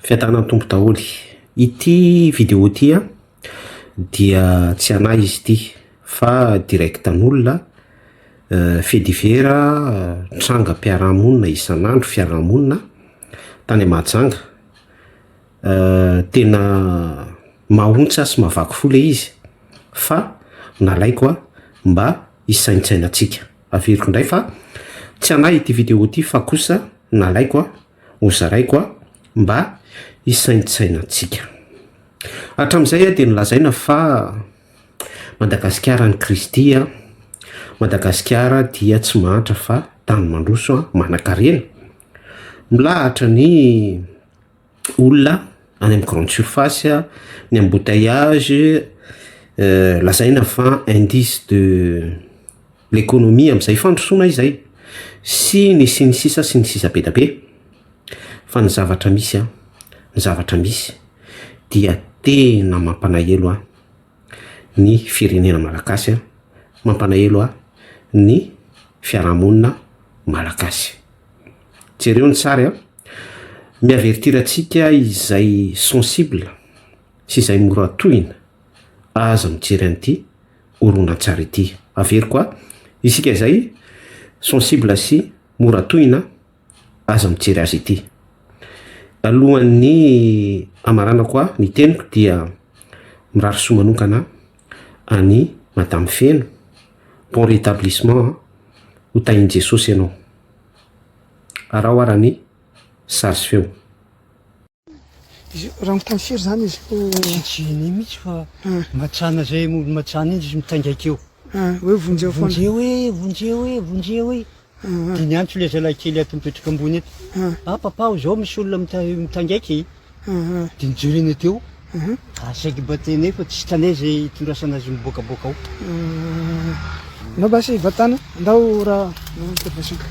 Fiadanan'ny Tompo daholo. Ity vidéo ity an dia tsy anah izy ity fa directn'olona, fait divers, trangam-piarahamonina isan'andro, fiarahamonina tany Mahajanga, tena mahaontsa sy mahavaky fo ilay izy fa nalaiko an mba hisaintsainantsika. Averiko indray fa tsy anah ity vidéo ity fa kosa nalaiko an. ho zaraiko a mba hisaintsainantsika. Hatramin'izay a dia nolazaina fa Madagasikara an'i Kristy a, Madagasikara dia tsy mahantra fa tany mandroso a, manankarena, milahatra ny olona any amin'ny grande surface a, ny embouteillage, lazaina fa indice de L'économie amin'izay fandrosoana izay sy ny sy ny sisa sy ny sisa be da be. Fa ny zavatra misy an, ny zavatra misy dia tena mampanahelo ahy ny firenena malagasy an, mampanahelo ahy ny fiarahamonina malagasy. Jereo ny sary an, mi-avertir antsika izay sensible sy izay mora tohina aza mijery an'ity. horonantsary ity. Averiko a! Isika izay sensible sy mora tohina aza mijery azy ity. Alohan'ny hamaranako ahy ny teniko dia mirary soa manokana an'i Madame Feno, bon rétablissement an! Ho tahin'i Jesosy ianao. Araho ara ny sary sy feo. Raha mitany firy zany izy no. Tsy tsy ny mitsy fa matsana zay olo matsana iny izy mitaingaika eo. Hoe vonjeo foana. Vonjeo e, vonjeo e, vonjeo e. Dia niantso ilay zalahy kely ato mipetraka ambony ato. Ah papa o zao misy olona mitangaika e. Dia nijoro eny teo. Ary saiky mba tenenay fa tsy hitanay zay hitondrasana azy miboakaboaka ao. Anao basy hivatana. Andao ra manitra basiko.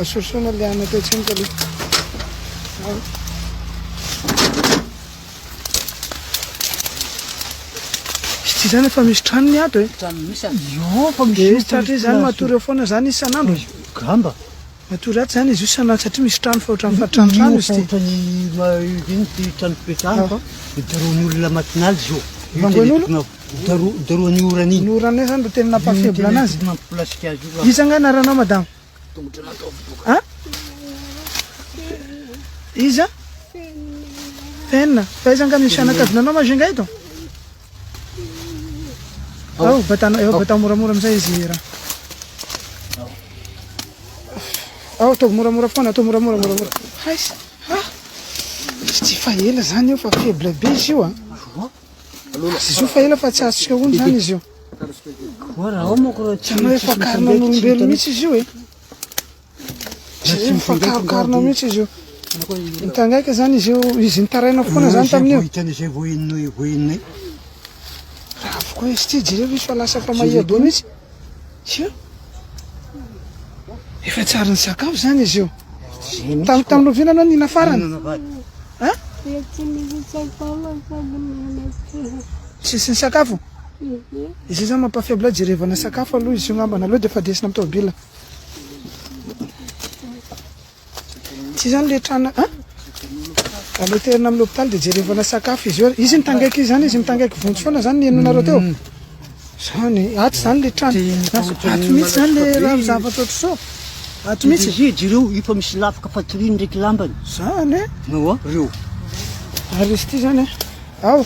Asorosona le anatra etsy amiko aloha. Tsy zany efa misy tranony ato e. Tranony misy ato. Io fa misy. Tsy tratra izany matory eo foana zany isan'andro. Gamba. Matoa ratsy zany izy io sa na satria misy trano fa ohatran'ny fa trano trano izy ty. Ohatran'ny iny ty trano fipetrahana fa hidarohan'ny olona matin'ala izy io. Vangoin'olo? Hidarohan'ny orana iny. Ny orana iny zany no tena nampa faible anazy. Iny no tena nampilasika azy io. Iza nga anaranao madama? Tongotra nataovy doka. Ha? Iza? Fenina. Fa iza nga misy fianakavinanao ma zay nga eto? Ao, batana, eo, batana moramora amizay izy hira. Ao, ataovy moramora foana, ataovy moramora, moramora. Hais, ha? Tsy fa ela zany io fa faible be izy io ah. Izy io fa ela fa tsy azotsika ony zany izy io. Tanao efa karina n'olombelo mihitsy izy io eh. Izy mifankarokarona mihitsy izy io. Mitangaika izany izy io, izy nitaraina foana izany tamin'io. Hitany izay vao inona eo, vao inona eo. Raha avokoa izy ity, jereo izy fa lasa fa mahia be mihitsy. Io. Efa tsy ary nisakafo izany izy io. Tam- Tamin'ny lovina ianao nina farany. Inona vady? Ha? Tsisy nisakafo? Izy io izany mampafaible, jerevana sakafo aloha izy io ngambana, aleo dia efa desina amin'ny taobila. Tsy izany le trana a? Aleo terina amin'ny hôpital dia jerevana sakafo izy eo. Izy mitangaiky izany izy mitangaiky vonjy foana izany ny henonareo teo. Izany, ato izany le trana. Ato mihitsy izany le raha ny zavatra ohatr'izao. Ato mihitsy. Izy ireo efa misy lafika fatoriany ndraiky lambany. Izany e. Nawa reo. Ary izy ity izany a. Ao.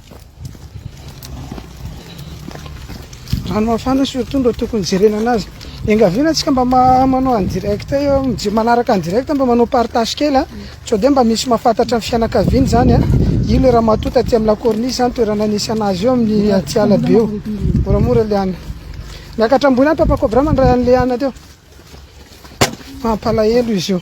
Rano mafana surtout no tokony jerena anazy. Engaviana antsika mba manao en direct eo, manaraka en direct mba manao partage kely a. Sao dia mba misy mafatatra ny fianakaviany zany a. Io le ramatoa taty amin'ny la corniche zany toerana nisy anazy eo amin'ny Atiala be eo. Moramora Liana. Miakatra ambony any papa cobra mandray an'i Liana teo. Mampalahelo izy io.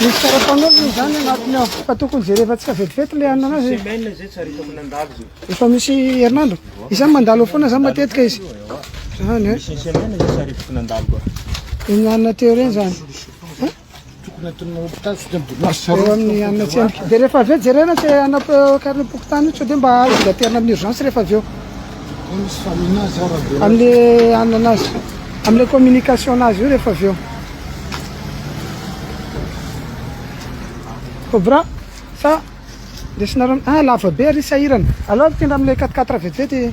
Misy karapanondro moa izany anatiny ao fa tokony jerevantsika vetivety ilay hanina anazy. Semaine izay tsy arita mandalo izay. Efa misy herinandro. Izany mandalo foana izany matetika izy. Izany eh. Misy semaine izay tsy arita mandalo koa. Ny hanina teo ireny izany. Tokony atonina hopitaly tsy dia mbola azo Eo amin'ny sarona amin'ny fotsiny. antsena. Dia rehefa avy eo jerena izay hanao karnem-pokontany io sao dia mba azo gaterina amin'ny urgence rehefa avy eo. Koa misy famina azy ao raha velatra. Amin'ny hanana azy, amin'ilay communication anazy io rehefa avy eo. Cobra sa. Ndesinareo ah lava be ary sahirana. Aleo afindra amle quatre quatre vetivety e.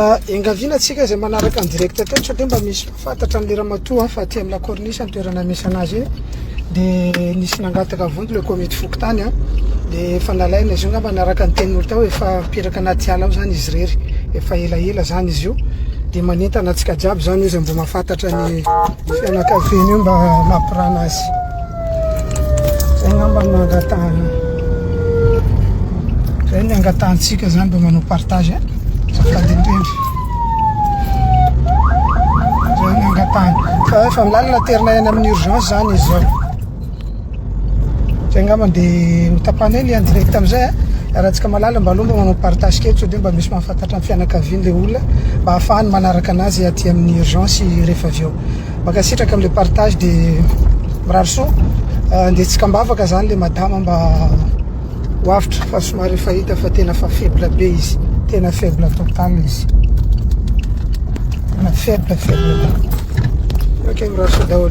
Ah, engaviana tsika izay manaraka ny direct teto satria mba misy fantatra an'ilay ramatoa ah, fa aty amin'ny lakornisy ny toerana misy anazy iny dia nisy nangataka vonjy ilay komity fokontany a ah. dia efa nalaina izy io ngamba naraka ny tenin'olo tao efa mipiraka anaty ala ao zany izy rery efa elaela zany izy io dia manentana antsika jiaby zany io izay mbo mahafantatra ny fianakaviana io mba mampirana azy Zay ngamba no angataha. Zay ny angatahantsika zany mba manao partage. Azafady indrindra. Zay ny angatahana. Fa efa milalina terina any amin'ny urgence zany izy zao. Zay ngamba dia hotapana eny en direct amizay. Aratsika malala mba alomba manao partage kely sao dia mba misy mahafantatra amin'ny fianakaviany le olona mba ahafahany manaraka anazy aty amin'ny urgence rehefa avy eo. Mankasitraka amle partage de mirary soa de tsy kambavaka zany le madama mba ho avotra fa somary efa hita fa tena fa faible be izy tena faible total izy tena faible faible ok mirary soa daholo